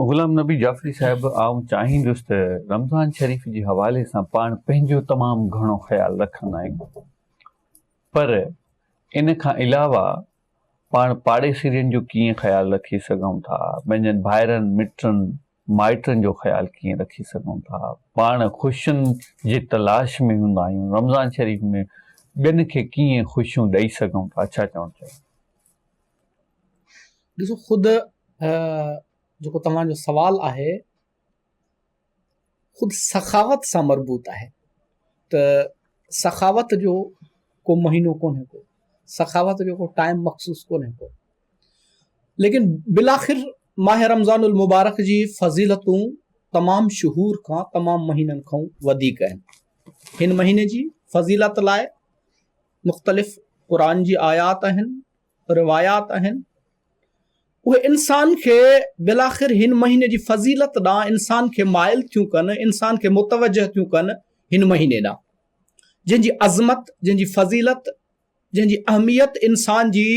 غلام نبي جعفري صاحب آئون چاهيندس ته رمضان شريف جي حوالي سان پاڻ پنهنجو تمام گهڻو خيال رکندا آهيون پر ان کان علاوه پاڻ پاڙيسرين جو ڪيئن خيال رکي سگهون ٿا پنهنجن ڀائرن مٽن مائٽن جو خيال ڪيئن رکي سگهون ٿا پاڻ خوشين جي تلاش ۾ هوندا آهيون رمضان شريف ۾ ٻين کي ڪيئن خوشيون ڏئي سگهون ٿا ڇا چوڻ چاهيو ڏسو خود جيڪو توهان جو سوال آهي خود سخاوت سان مربوط آهي ته سخاوت جو ڪو مهينو ڪونهي ڪو سخاوت جو ڪو ٽائم مخصوص ڪونهي ڪو ليڪن بلاخر ماہ رمضان المبارڪ جي فضيلتون تمام شهور کان تمام مهينن کان وڌيڪ آهن هن مهيني جي فضيلت لاء مختلف قرآن جي آيات آهن، روايات آهن، اهي انسان کي بالآخر هن مهيني جي فضيلت ڏانهن انسان کي مائل ٿيون ڪن، انسان کي متوجه ٿيون ڪن هن مهيني ڏانهن، جنهن جي عظمت، جنهن جي فضيلت، جنهن جي اهميت انسان جي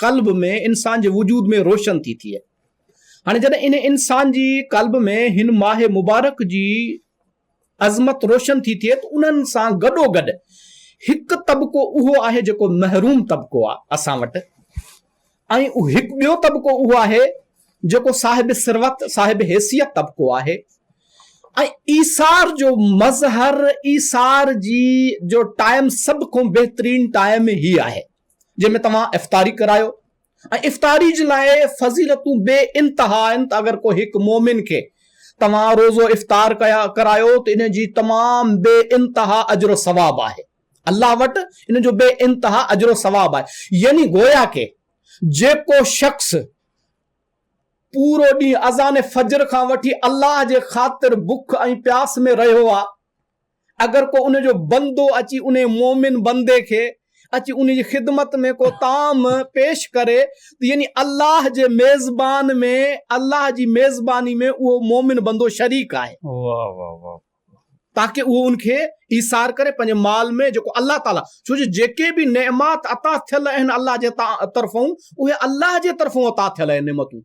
قلب ۾ انسان جي وجود ۾ روشن ٿي ٿئي. هاڻي جڏهن ان انسان جي قلب ۾ هن ماه مبارڪ جي عظمت روشن ٿي ٿئي ته انهن سان گڏوگڏ هڪ طبقو اهو آهي جيڪو محروم طبقو آهي اسان وٽ ۽ هڪ ٻيو طبقو اهو آهي جيڪو صاحب ثروت صاحب حيثيت طبقو آهي ۽ ايثار جو مظهر ايثار جي جو ٽائيم سڀ کون بهترين ٽائيم هي آهي جنهن ۾ توهان افطاري ڪرايو ۽ افطاري جي لاء فضيلتون بي انتها آهن ته اگر ڪو هڪ مؤمن کي توهان روزو افطار ڪرايو ته ان جي تمام بي انتها اجر و ثواب آهي الله وٽ ان جو بي انتها اجر و ثواب آهي يعني گويا ڪي جيڪو شخص پورو ڏينهن اذان فجر کان وٺي الله جي خاطر بک ۽ پياس ۾ رهيو آ. اگر ڪو ان جو بندو اچي انهي مؤمن بندي کي اچي ان جي خدمت ۾ ڪو طعام پيش ڪري ته يعني الله جي ميزبان ۾ الله جي ميزباني ۾ اهو مؤمن بندو شريڪ آهي تاڪه اهو ان کي ايثار ڪري پنهنجي مال ۾ جيڪو الله تعالي ڇو جو جيڪي به نعمات عطا ٿيل آهن الله جي طرفون اهي الله جي طرفون عطا ٿيل آهن نعمتون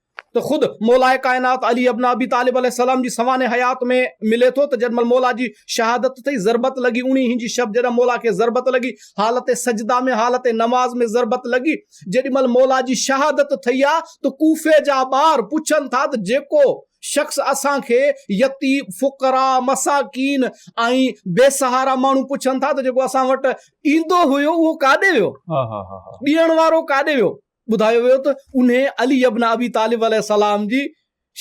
ته خود مولائي ڪائنات علي ابن ابي طالب عليه السلام جي سوانح حيات ۾ ملي ٿو ته جڏهن مهل مولا جي شهادت ٿئي ضربت لڳي اڻي هين جي شب جڏهن مولا کي ضربت لڳي حالت سجده ۾ حالت نماز ۾ ضربت لڳي جيڏي مهل مولا جي شهادت ٿئي ها ته ڪوفي جا ٻار پڇن ٿا ته جيڪو شخص اسان کي يتيم فقراء مساڪين ۽ بي سهارا ماڻهو پڇن ٿا ته جيڪو اسان وٽ ايندو هيو اهو ڪاڏي ويو ڏيڻ وارو ڪاڏي ويو. ٻڌايو ويو ته انهي علي ابن ابي طالب عليه السلام جي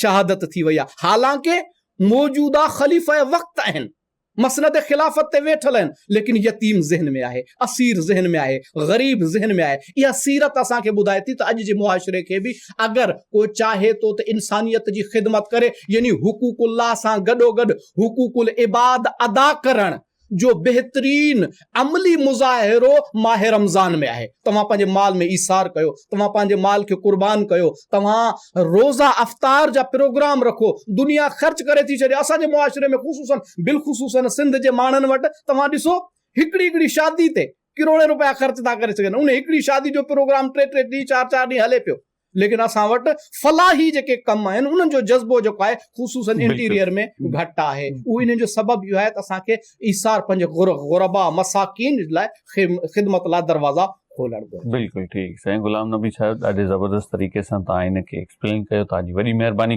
شهادت ٿي وئي آهي حالانڪ موجوده خليفه وقت آهن مسند خلافت تي ويٺل آهن ليڪن يتيم ذهن ۾ آهي اسير ذهن ۾ آهي غريب ذهن ۾ آهي اها سيرت اسان کي ٻڌائي ٿي ته اڄ جي معاشري کي به اگر ڪو چاهي ٿو ته انسانيت جي خدمت ڪري يعني حقوق الله سان گڏوگڏ حقوق العباد ادا ڪرڻ جو بهترين عملي مظاهرو ماه رمضان ۾ آهي توهان پنهنجي مال ۾ ايثار ڪيو توهان پنهنجي مال کي قربان ڪيو توهان روزا افطار جا پروگرام رکو دنيا خرچ ڪري ٿي ڇڏي اسان جي معاشري ۾ خصوصا بلخصوصا سنڌ جي ماڻهن وٽ توهان ڏسو هڪڙي هڪڙي شادي تي ڪروڙين روپيا خرچ ٿا ڪري سگهن ان هڪڙي شادي جو پروگرام ٽي ٽي ڏينهن چار چار ڏينهن هلي پيو ليڪن اسان وٽ فلاحي جيڪي ڪم آهن انهن جو جذبو جيڪو آهي خصوصا انٽيريئر ۾ گهٽ آهي اهو انهن جو سبب اهو آهي ته اسان کي ايثار پنهنجي غربا مساڪين لاء خدمت لاء دروازا کولڻ گهرجن. بلڪل ٺيڪ سائين غلام نبي صاحب ڏاڍي زبردست طريقي سان تهان هن کي ايڪسپلين ڪيو تهان جي وڏي مهرباني.